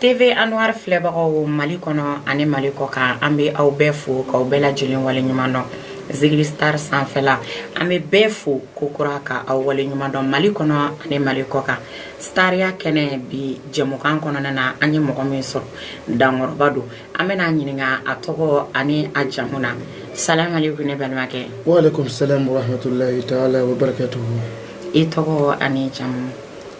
TV Anwar filɛbagaw Mali kɔnɔ ani Mali kɔ kan an bɛ aw bɛɛ fo k'aw bɛɛ lajɛlen waleɲuman dɔn zigiri star sanfɛla an bɛ bɛɛ fo ko kura ka aw waleɲuman dɔn Mali kɔnɔ ani Mali kɔ kan stariya kɛnɛ bi jɛmukan kɔnɔna na an ye mɔgɔ min sɔrɔ dankɔrɔba don an bɛna a ɲininka a tɔgɔ ani a jamu na salamu aleykum ne balimakɛ wa aleykum salam wa rahmatulahi taala wa barakatuhu i tɔgɔ ani jamu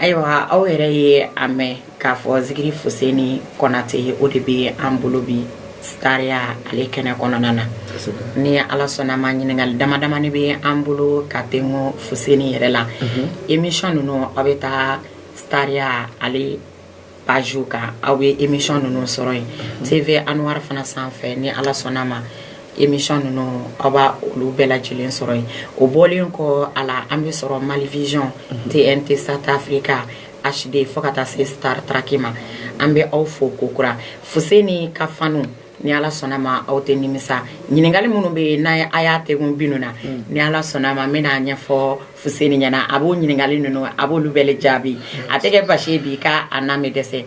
ayiwa aw yɛrɛ ye a mɛn k'a fɔ zikiri fuseni kɔnatɛ o de bɛ an bolo bi stariya ale kɛnɛ kɔnɔna na ni ala sɔnna ma ɲininkali dama damani bɛ an bolo ka tengo fuseni yɛrɛ la émission ninnu aw bɛ taa stariya ale page kan aw bɛ émission ninnu sɔrɔ yen TV Anwar fana sanfɛ ni Ala sɔnna ma émission ninnu aw b'a olu bɛɛ lajɛlen sɔrɔ yen o bɔlen kɔ a la an bɛ sɔrɔ Malivision TNT Sat Africa HD fo ka taa se Star Trek ma an bɛ aw fo kokura Fuseni ka faniw ni ala sɔnna ma aw tɛ nimisa ɲininkali minnu bɛ yen n'a a y'a tɛ kun bin na mm. ni ala sɔnna ma n bɛn'a ɲɛfɔ fuseni ɲɛna a b'o ɲininkali ninnu a b'olu bɛɛ jaabi a tɛ kɛ basi ye bi ka a n'a ma dɛsɛ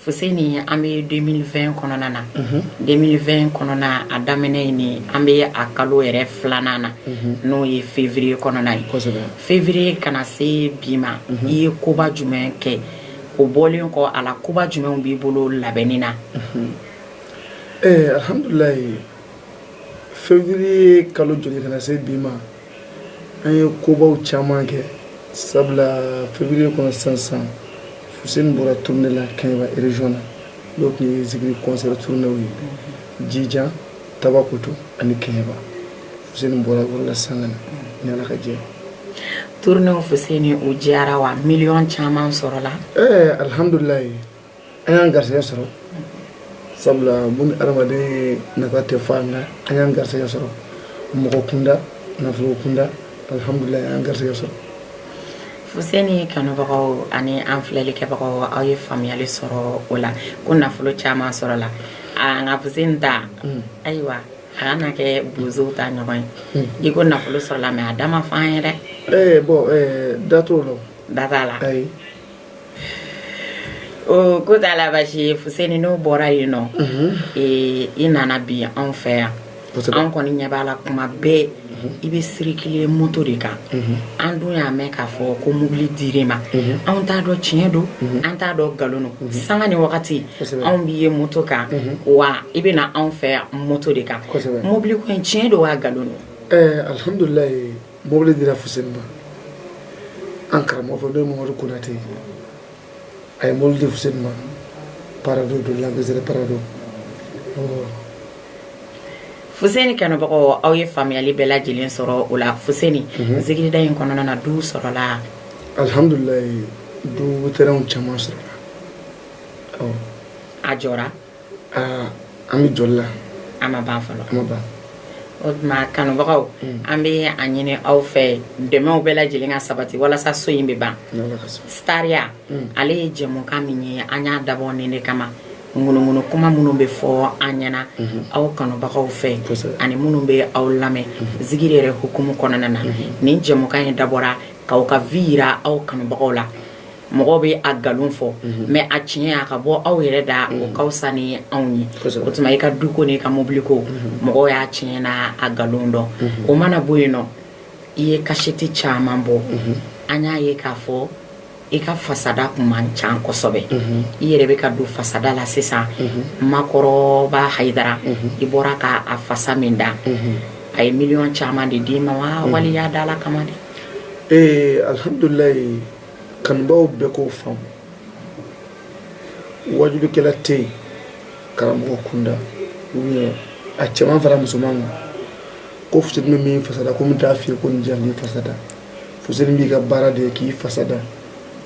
fuseni an bɛ 2020 kɔnɔna na 2020 mhm. kɔnɔna a daminɛ ye nin an bɛ a kalo yɛrɛ filanan na mhm. n'o ye février kɔnɔna ye février ka na se bi ma mhm. i ye koba jumɛn kɛ o bɔlen kɔ a la koba jumɛnw b'i bolo labɛnni na Ɛɛ alihamdulila février kalo jɔli ka na se bi ma an ye kobaw caman kɛ sabula février kɔnɔ sansan fuseni bɔra tournée la kɛɲɛba région na n'o tun ye zikiri concert tournéew ye jijan tabakoto ani kɛɲɛba fuseni bɔra o la san na ni ala ka jɛ tournée ninnu fɛ se o diyara wa miliyɔn caman sɔrɔla ɛɛ alihamdulila an y'an garisɛgɛ sɔrɔ sabula bɔn adamaden nafa tɛ fɔ an na an y'an garisɛgɛ sɔrɔ mɔgɔ kunda nafolo kunda alhamdulilayi an y'an garisɛgɛ sɔrɔ fuseni kanubagaw ani an filɛli kɛbagaw aw ye faamuyali sɔrɔ o la ko nafolo caman sɔrɔla nka fuseni ta mm. ayiwa a kana kɛ bozow ta ɲɔgɔn ye mm. i ko nafolo sɔrɔla mɛ a da ma fɔ an ye dɛ eh, bɔn eh, da t'o la da t'a la ayi ko t'a la basi ye fuseni n'o bɔra yen nɔ i nana bi anw fɛ yan anw kɔni ɲɛ b'a la kuma bɛɛ i bɛ circuler moto de kan an dun y'a mɛn k'a fɔ ko mobili dir'e ma anw t'a dɔn tiɲɛ don an t'a dɔn nkalon don sanga ni wagati anw b'i ye moto kan wa i bɛ na anw fɛ yan moto de kan mobili ko in tiɲɛ don wa nkalon don alihamdulila mobili dira fuseni ma an karamɔgɔ fɛ n'o ye mamadu konate ye a ye mobili di fuseni ma parado don land cruiser parado fuseni kanubagaw aw ye faamuyali bɛɛ lajɛlen sɔrɔ o la fuseni mhm. zigirida in kɔnɔna na duw sɔrɔla alhamdulilayi du terɛnw caman sɔrɔla a jɔra aa an bɛ jɔli la an ma ban fɔlɔ an ma ban o tuma kanubagaw mm. an bɛ a ɲini aw fɛ dɛmɛw bɛɛ lajɛlen ka sabati walasa so in bɛ ban stariya mm. ale ye jɛmukan min ye an y'a dabɔ nin de kama ŋunuŋunu kuma minnu bɛ fɔ an ɲɛna mhm. aw kanubagaw fɛ ani minnu bɛ aw lamɛn mhm. zigiri yɛrɛ hukumu kɔnɔna na mhm. nin jɛmukan in dabɔra k'aw ka vi yira aw kanubagaw la mɔgɔ bɛ a nkalon fɔ mɛ a tiɲɛ a ka bɔ aw yɛrɛ da o ka wusa ni anw ye o tuma i ka du ko n'i ka mobili ko mɔgɔ y'a tiɲɛ n'a nkalon dɔn o mana bɔ yen nɔ i ye kasɛti caman bɔ an y'a ye k'a fɔ i ka fasada tun man ca kosɛbɛ i yɛrɛ bɛ ka don fasada la sisan makɔrɔba hayidara i bɔra k' a fasa min da a ye miliyɔn caman de d'i ma wa wali y'a da ala kama de ee alihamdulila kanubaw bɛɛ k'o faamu wajulikɛla tɛ yen karamɔgɔ kunda a cɛman fara musoman kan ko fu bɛ min fasada ko a t'a f'i ye ko nin di a b'i fasada fu b'i ka baara de ye k'i fasada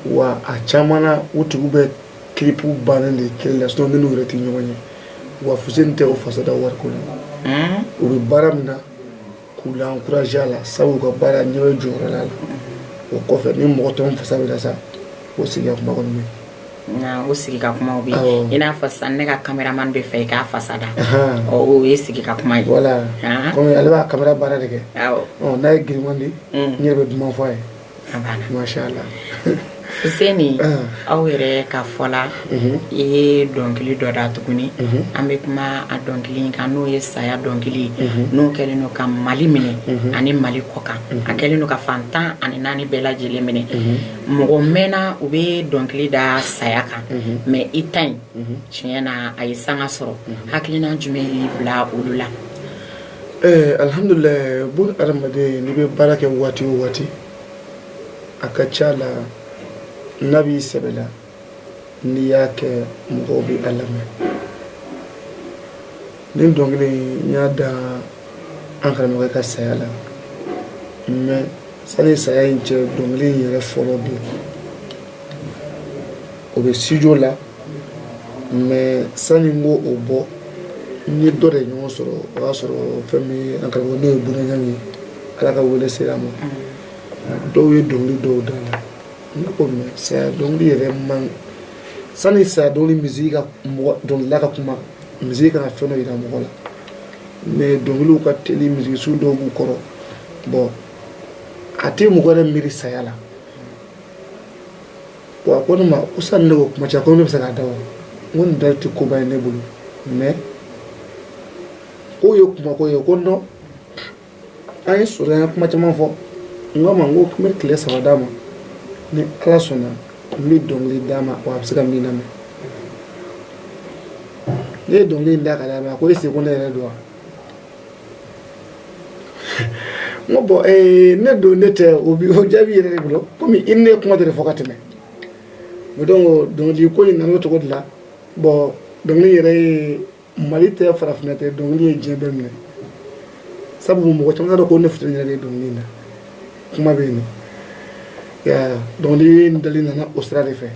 wa a caman o tigiw bɛ kiripu bannen de tele la sinɔ ne n'u yɛrɛ tɛ ɲɔgɔn ye wa fu tɛ o fasada wari ko la u bɛ baara min na k'u lankuraze a la sabu u ka baara ɲɛ bɛ jɔyɔrɔ la o kɔfɛ ni mɔgɔ tɔw fasa bɛ da sa o sigi ka kuma kɔni o sigi ka kuma bɛ i n'a fɔ sisan ne ka kameraman b'a fɛ i k'a fasa da o ye sigi ka kuma ye wala ale b'a kamera baara de kɛ n'a ye giriman di n yɛrɛ bɛ duman fɔ a ye Fuseni aw yɛrɛ ka fɔ la i ye dɔnkili dɔ da tuguni an bɛ kuma a dɔnkili kan n'o ye saya dɔnkili ye n'o kɛlen don ka mali minɛ ani mali kɔkan a kɛlen don ka fan tan ani naani bɛɛ lajɛlen minɛ mɔgɔ mɛnna u bɛ dɔnkili da saya kan mɛ i ta in tiɲɛ na a ye sanga sɔrɔ hakilina jumɛn y'i bila olu la Ɛɛ alihamdulila bon hadamaden n'i bɛ baara kɛ waati o waati a ka ca la n'a b'i sɛbɛ la n'i y'a kɛ mɔgɔw bɛ a lamɛn nin dɔnkili n y'a da an karamɔgɔ ka saya la mɛ sani saya in cɛ dɔnkili in yɛrɛ fɔlɔ bɛ o bɛ studio la mais sani n ko o bɔ n ye dɔ de ɲɔgɔn sɔrɔ o y'a sɔrɔ fɛn min an karamɔgɔ n'o ye bunaɲang ye ala ka wele sera a ma dɔw ye dɔnkili dɔw da la ne ko mais saya dɔnkili yɛrɛ man sani saya dɔnkili musique ka mɔgɔ dɔnkilila ka kuma musique kana fɛn dɔ yira mɔgɔ la mais dɔnkiliw ka teli musique su dɔw b'u kɔrɔ bon a tɛ mɔgɔ yɛrɛ miiri saya la wa a ko ne ma ko sani ne ko kuma cɛ ko ne bɛ se k'a da wa n ko nin da tɛ koba ye ne bolo mais k'o ye kuma ko ye ko non an ye sɔrɔ an ye kuma caman fɔ n k'a ma n ko n bɛ tile saba d'a ma ni ala sɔnna n bɛ dɔnkili d'a ma wa a bɛ se ka min lamɛn ne ye dɔnkili in da ka d'a ma a ko est-ce que ne yɛrɛ don wa n ko bon ee, ne don ne tɛ o jaabi yɛrɛ de bolo komi i ni ne kuma de fɔ ka tɛmɛ mais donc dɔnkili ko in nana o cogo de la bon dɔnkili yɛrɛ ye mali tɛ farafinna tɛ dɔnkili ye diɲɛ bɛɛ minɛ sabu mɔgɔ caman t'a dɔn ko ne fuseni yɛrɛ de ye dɔnkili in na kuma bɛ yen dɔnkili in dali nana o sira de fɛ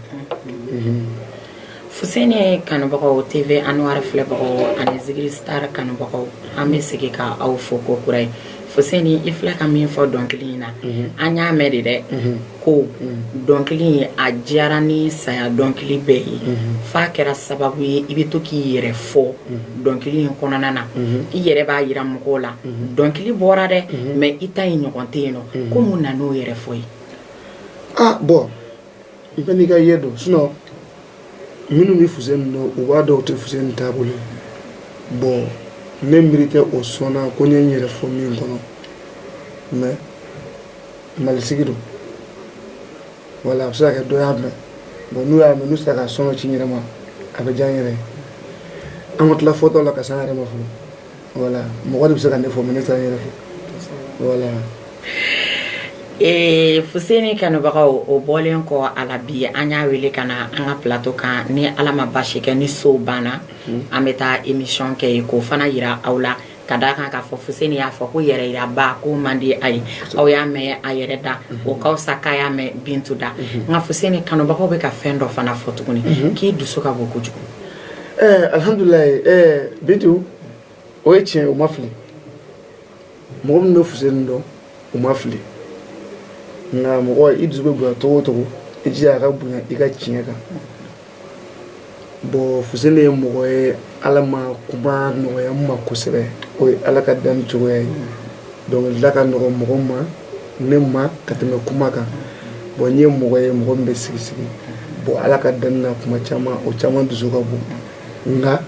fuseni kanubagaw tv anwar filɛbagaw ani zigiri star kanubagaw an bɛ segin ka aw fo ko kura ye fuseni i filɛ ka min fɔ dɔnkili in na an y'a mɛn de dɛ ko dɔnkili in a diyara ni saya dɔnkili bɛɛ ye f'a kɛra sababu ye i bɛ to k'i yɛrɛ fɔ dɔnkili in kɔnɔna na i yɛrɛ b'a yira mɔgɔw la mhm. dɔnkili bɔra dɛ mhm. mais i ta in ɲɔgɔn tɛ yen nɔ mhm. ko mun na n'o yɛrɛ fɔ ye ah bon i bɛ n'i ka ye dɔn sinon minnu bɛ fuseni dɔn u b'a dɔn o tɛ fuseni taabolo bon ne miiri tɛ o sɔnna ko n ye n yɛrɛ fɔ min kɔnɔ mais malisigi don wala a bɛ se ka kɛ dɔ y'a mɛn bon n'u y'a mɛn n'u sera ka son ci n yɛrɛ ma a bɛ diya n yɛrɛ ye an ka tila fɔtaw la ka se an yɛrɛ ma fɔlɔ wala mɔgɔ de bɛ se ka ne fɔ mais ne tɛ n yɛrɛ fɔ wala ee fuseni kanubagaw o bɔlen kɔ a la bi an y'a wele ka na an ka plateau kan ni ala ma basi kɛ ni sow banna hmm. an bɛ taa émission kɛ yen k'o fana yira aw la ka da kan k'a fɔ fuseni y'a fɔ ko yɛrɛ yira ba ko man di a ye aw y'a mɛn a yɛrɛ da hmm. o ka fisa k'a y'a mɛn bintu da hmm. nka fuseni kanubagaw bɛ ka fɛn dɔ fana fɔ tuguni k'i dusu ka bon kojugu ɛɛ alihamdulilayi ɛɛ bintu o ye tiɲɛ ye o ma fili mɔgɔ min bɛ fuseni dɔn o ma fili nka mɔgɔ i dusu bɛ bonya cogo o cogo i jija a ka bonya i ka tiɲɛ kan bon fuseni ye mɔgɔ ye ala ma kuma nɔgɔya n ma kosɛbɛ o ye ala ka danni cogoya ye donc la ka nɔgɔ mɔgɔ ma ne ma ka tɛmɛ kuma kan bon n ye mɔgɔ ye mɔgɔ min bɛ sigi sigi bon ala ka danni na kuma caman o caman dusu ka bon nka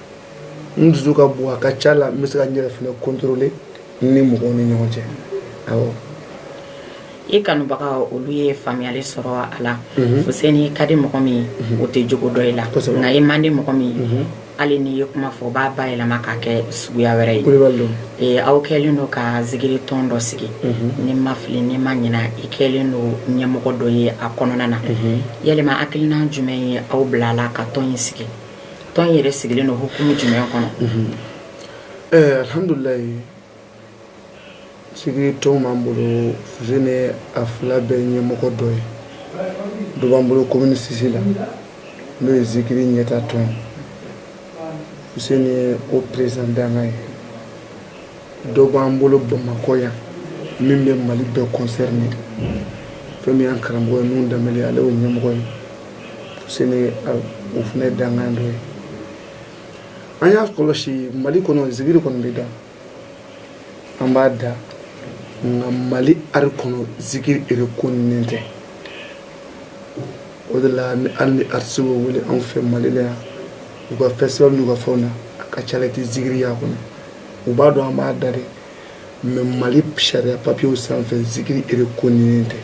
n dusu ka bon a ka ca la n bɛ se ka n yɛrɛ fana kɔntɔrɔle ni mɔgɔw ni ɲɔgɔn cɛ awɔ i kanubaga olu ye faamuyali sɔrɔ a la fuseni i ka di mɔgɔ min o tɛ jugu dɔn i la nka i man di mɔgɔ min ye hali n'i ye kuma fɔ o b'a bayɛlɛma ka kɛ suguya wɛrɛ ye aw kɛlen don ka zikiri tɔn dɔ sigi mhm. ni n ma fili ni n ma ɲina i kɛlen don ɲɛmɔgɔ dɔ ye a kɔnɔna na mhm. yɛlɛma hakilina jumɛn ye aw bila a la ka tɔn in sigi tɔn yɛrɛ sigilen don hukumu jumɛn kɔnɔ mhm. eh, alihamdulilayi zikiri tɔn b'an bolo fuseni a fila bɛɛ ɲɛmɔgɔ dɔ ye dɔ b'an bolo komini sisi la n'o ye zikiri ɲɛtaa tɔn fuseni o perezidan dankan ye dɔ b'an bolo bamakɔ yan min bɛ mali bɛɛ kɔnsɛrine fɛn min y'an karamɔgɔ ye nuhu danbɛlɛ ale y'o ɲɛmɔgɔ ye fuseni o fana dankan dɔ ye an y'a kɔlɔsi mali kɔnɔ zikiri kɔni bɛ da an b'a da nka mali ari kɔnɔ zikiri erekoninen tɛ o de la ni hali ni aritisiw bɛ wele anw fɛ mali la yan u ka festival n'u ka fɛnw na a ka ca la i tɛ zikiri y'a kɔnɔ u b'a dɔn an b'a da dɛ mɛ mali sariya papiyew sanfɛ zikiri erekoninen tɛ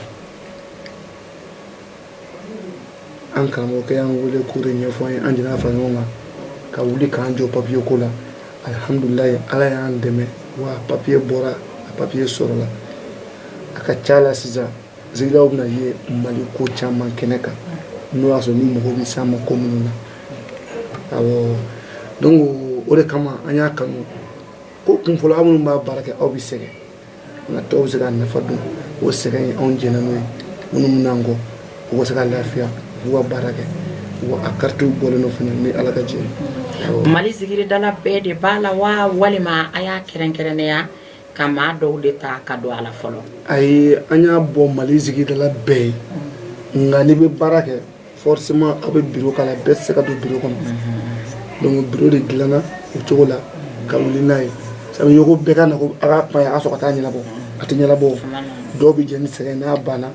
an karamɔgɔkɛ y'an wele k'o de ɲɛfɔ an ye an jɛnna fara ɲɔgɔn kan ka wuli k'an jɔ papiye ko la alihamudulilayi ala y'an dɛmɛ wa papiye bɔra a papiye sɔrɔla a ka ca la sisan zikirilaw bɛna ye mali ko caman kɛnɛ kan n'o y'a sɔrɔ ni mɔgɔw bɛ s'an ma ko minnu na awɔ donc o de kama an y'a kanu ko kun fɔlɔ aw minnu b'a baara kɛ aw bɛ sɛgɛn nka tɔw bɛ se ka nafa dun o sɛgɛn ye anw jɛnna n'o ye minnu bɛ na an kɔ u ka se ka lafiya u ka baara kɛ wa a karitiw bɔlen don fana ni ala ka jɛ mali zikiridala bɛɛ de b'a la wa walima a y'a kɛrɛnkɛrɛnnenya ka maa dɔw de ta ka don a la fɔlɔ ayi an y'a bɔ mali zikiridala bɛɛ ye nka n'i bɛ baara kɛ forcément aw bɛ biro k'a la bɛɛ tɛ se ka don biro kɔnɔ donc biro de dilanna o cogo la ka wuli n'a ye sabu i ko bɛɛ ka na ko a ka kuma ye a ka sɔrɔ ka taa ɲɛnabɔ a tɛ ɲɛnabɔ dɔw bɛ jɛn ni sɛgɛn n'a banna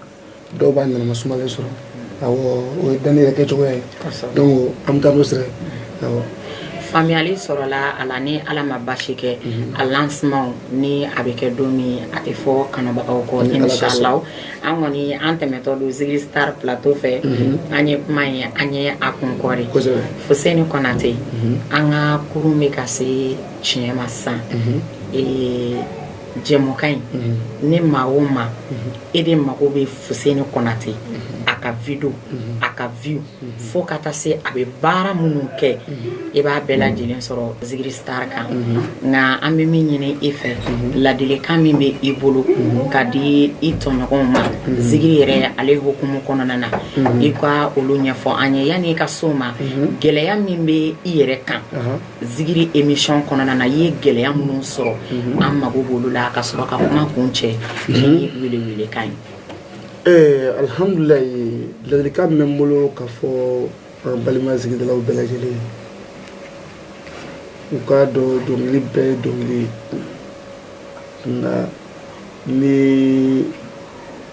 dɔw b'a ɲɛnama sumalen sɔrɔ awɔ o ye danni yɛrɛ kɛcogoya ye donc an bɛ taa n'o sira ye awɔ faamuyali sɔrɔla a la ni ala ma basi kɛ a lansiman ni a bɛ kɛ don min a tɛ fɔ kanubagaw kɔ ni ala ka sɔn. inshallah an kɔni an tɛmɛtɔ don zigiri star plateau fɛ mhm. an ye kuma ye an ye a kun kɔri fuseni kɔnate mhm. an ka kurun bɛ ka se tiɲɛ ma sisan mhm. eh, jɛmukan in ni maa o maa e de mago bɛ fuseni kɔnate a ka video a ka view fo ka taa se a bɛ baara minnu kɛ i b'a bɛɛ lajɛlen sɔrɔ zigiri star kan nka an bɛ min ɲini i fɛ ladilikan min bɛ i bolo ka di i tɔɲɔgɔnw ma zigiri yɛrɛ ale hukumu kɔnɔna na i ka olu ɲɛfɔ an ye yanni i ka s'o ma gɛlɛya min bɛ i yɛrɛ kan zigiri émission kɔnɔna na i ye gɛlɛya minnu sɔrɔ an mago b'olu la ka sɔrɔ ka kuma kuncɛ ni welewelekan ye Ɛɛ alhamdulillah ladilikan min bɛ n bolo ka fɔ an balima zigiridalaw bɛɛ lajɛlen ye u k'a dɔn dɔnkili bɛɛ ye dɔnkili ye nka ni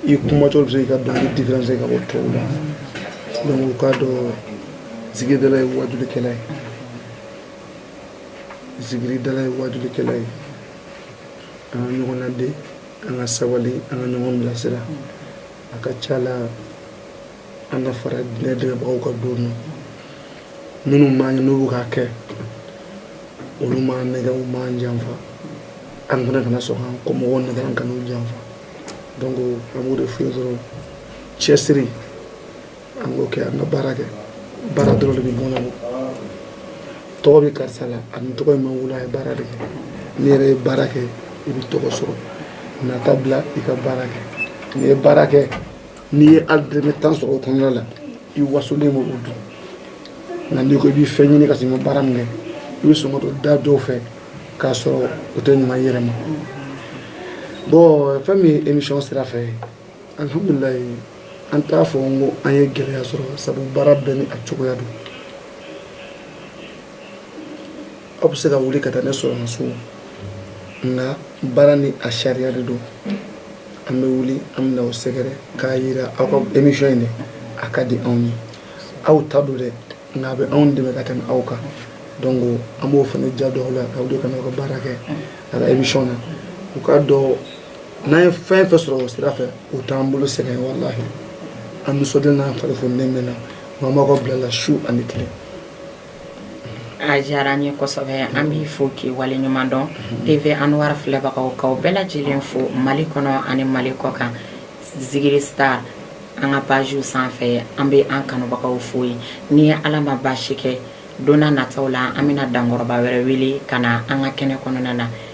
i kumatɔ bɛ se ka dɔnkili différencier ka bɔ tɔw la donc u k'a dɔn zigiridala ye waajulikɛla ye zigiridala ye waajulikɛla ye an ka ɲɔgɔn ladi an ka sabali an ka ɲɔgɔn bilasira a ka ca la an ka fara diinɛ dɛmɛbagaw kan don na minnu b'an ɲɛ n'u bɛ k'a kɛ olu m'an nɛgɛ u m'an janfa an fana kana sɔn k'an kɔmɔgɔw nɛgɛ an kan'u janfa donc an b'o de f'u ye dɔrɔn cɛsiri an k'o kɛ an ka baara kɛ baara dɔrɔn de bɛ mɔnɛ bɔ tɔgɔ bɛ karisa la a ni tɔgɔ in ma wolo a ye baara de kɛ n'i yɛrɛ ye baara kɛ i bɛ tɔgɔ sɔrɔ nata bila i ka baara kɛ n'i ye baara kɛ n'i ye hali dɔrɔmɛ tan sɔrɔ o kɔnɔna la i wasolen b'o dun nka n'i ko i bɛ fɛn ɲini ka sɔrɔ i ma baara min kɛ i bɛ sɔn ka don da dɔw fɛ k'a sɔrɔ o tɛ ɲuman i yɛrɛ ma bon fɛn min ye émission sira fɛ alhamdulillah an t'a fɔ n ko an ye gɛlɛya sɔrɔ sabu baara bɛɛ ni a cogoya don aw bɛ se ka wuli ka taa ne sɔrɔ n so nka baara ni a sariya de don an bɛ wuli an bɛ na aw sɛgɛrɛ k'a yira aw ka émission in de a ka di anw ye aw ta don dɛ nka a bɛ anw dɛmɛ ka tɛmɛ aw kan donc an b'o fana ja don aw la aw de kana aw ka baara kɛ a ka émission na u k'a dɔn n'an ye fɛn fɛn sɔrɔ o sira fɛ o t'an bolo sɛgɛn walahi an nisɔndiyalen n'an fari fonilen bɛ na n'an b'aw ka bila la su ani tile a diyara an ye kosɛbɛ an b'i fo k'i wale ɲuman dɔn tv anwar filɛbagaw k'aw bɛɛ lajɛlen fo mali kɔnɔ ani mali kɔkan zigiri star an ka pajiw sanfɛ an bɛ an kanubagaw fo ye ni ala ma baasi kɛ donna nataw la an bɛna dankɔrɔba wɛrɛ wele ka na an ka kɛnɛ kɔnɔna na